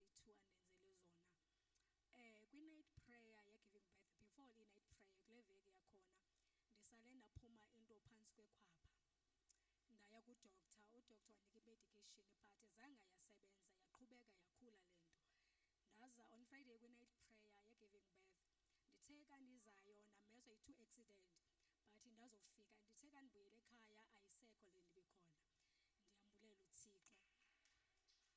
bethu andenzele zona eh kwi night prayer ye giving birth before i night prayer kule veki yakhona ndisale ndaphuma into phansi kwekhwapha ndaya ku doctor u doctor wanika i medication but zange yasebenza yaqhubeka yakhula lento ndaza on friday kwi night prayer ye giving birth ndithe kandizayo namezwa i-two accident but ndazofika ndithe kandibuyele ekhaya ayisekho le ndibikhona ndiyambulela uthixo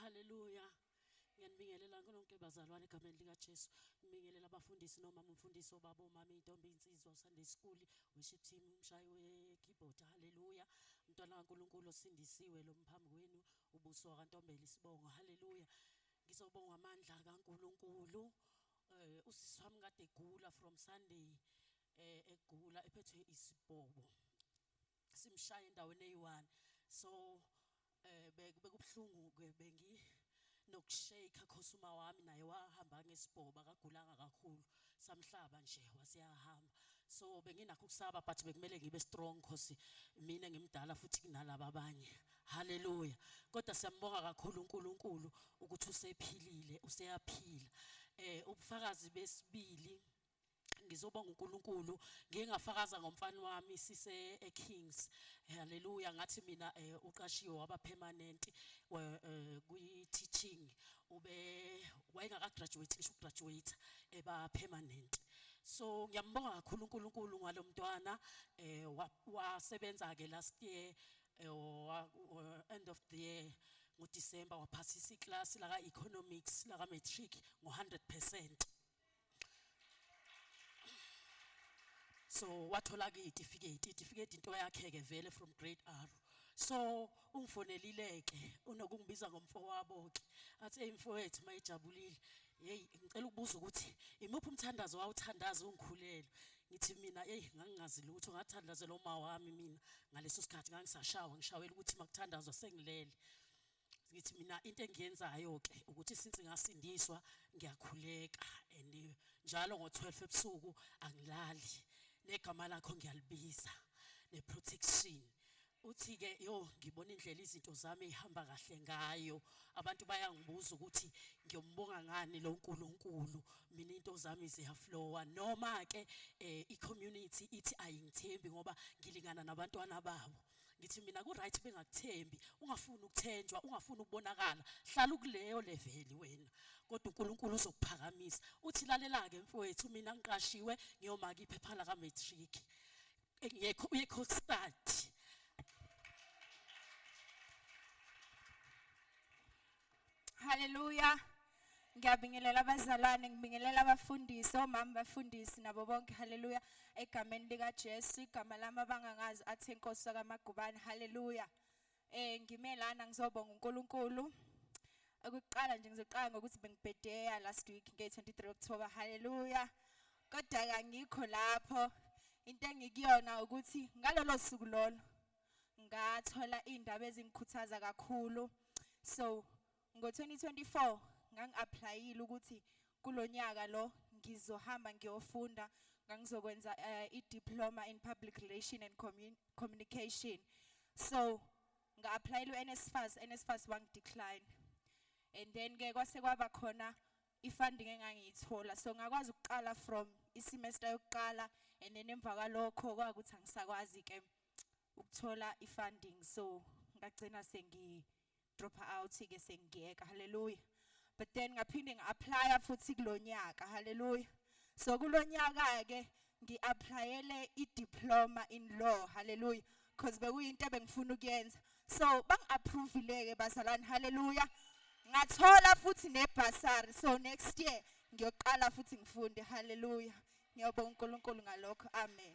Hallelujah. Ngiyanibingelela nkonke bazalwane egameni likaJesu. Ngibingelela abafundisi noma umfundisi obaba omama intombi insizwa usande school worship team umshayi we keyboard. Hallelujah. Mntwana kaNkuluNkulu osindisiwe lo mphambi kwenu ubuso wakantombela isibongo. Hallelujah. Ngizobonga amandla kaNkuluNkulu. Eh usisi wami kade egula from Sunday eh egula ephethwe isibhobo. Simshaya endaweni eyi-1. So eh bekubuhlungu ke bengi nokushake cause uma wami naye wahamba ngesibhoba akagulanga kakhulu samhlaba nje wasiyahamba so benginakho ukusaba but bekumele ngibe strong cause mina ngimdala futhi kunalabo abanye haleluya kodwa siyambonga kakhulu uNkulunkulu ukuthi usephilile useyaphila eh ubufakazi besibili ngizobonga uNkulunkulu ngike ngafakaza ngomfana wami sise eKings haleluya ngathi mina eh, uqashiwe waba permanent eh, kwi teaching ube wayengaka graduate ngisho graduate eba permanent so ngiyambonga kakhulu uNkulunkulu ngalomntwana eh wasebenza ke last year eh, end of the year ngoDecember waphasisa iclass laka economics laka matric ngo 100% so wathola ke itifiketi itifiketi into yakhe ke vele from grade R so ungifonelile ke unokungibiza ngomfowabo ke athi hey mfowethu mayijabulile hey ngicela ukubuza ukuthi imuphi umthandazo wawuthandaza ungikhulelwe ngithi mina hey ngangingazi lutho ngathandazela uma wami mina ngaleso sikhathi ngangisashawa ngishawela ukuthi makuthandazwa sengilele ngithi mina into engiyenzayo ke ukuthi since ngasindiswa ngiyakhuleka and njalo ngo12 ebusuku angilali negama lakho ngiyalibiza neprotection uthi ke yo ngibona indlela izinto zami ihamba kahle ngayo abantu bayangibuza ukuthi ngiyombonga ngani lo nkulunkulu mina into zami ziyaflowa noma ke eh, i community ithi ayingithembi ngoba ngilingana nabantwana babo ngithi mina ku-right bengakuthembi ungafuni ukuthenjwa ungafuni ukubonakala hlala ukuleyo leveli wena kodwa unkulunkulu uzokuphakamisa uthi lalela-ke mfowethu mina ngiqashiwe ngiyomaka iphepha laka-matric uyekhostadi Haleluya. Ngiyabingelela abazalwane, ngibingelela abafundisi, omama bafundisi nabo bonke. Haleluya. Egameni lika Jesu, igama lami abangangazi athi inkosi kaMagubane. Haleluya. Eh ngimelana ngizobonga uNkulunkulu. Ukuqala nje ngizoqala ngokuthi bengibhedeya last week nge 23 October. Haleluya. Kodwa ke angikho lapho. Into engikuyona ukuthi ngalolo suku lolo ngathola iy'ndaba ezingikhuthaza kakhulu. So ngo-2024 ngangi-aplayile ukuthi kulo nyaka lo ngizohamba ngiyofunda ngangizokwenza uh, i-diploma in public relation and commun communication so nga-aplayela u-nsfas nsfas wangidecline and then ke kwase kwaba khona i-funding engangiyithola so ngakwazi ukuqala from isemester yokuqala and then emva kwalokho kwakuthi angisakwazi ke ukuthola i-funding so ngagcina sengi drop out ke sengiyeka haleluya but then ngaphinde ngi-applya futhi kulonyaka haleluya so kulonyaka ke ngi-applyele i-diploma in law haleluya because bekuyinto ebengifuna ukuyenza so bangi-approvile-ke bazalwane haleluya ngathola futhi nebhasari so next year ngiyoqala futhi ngifunde haleluya Ngiyabonga uNkulunkulu ngalokho. Amen.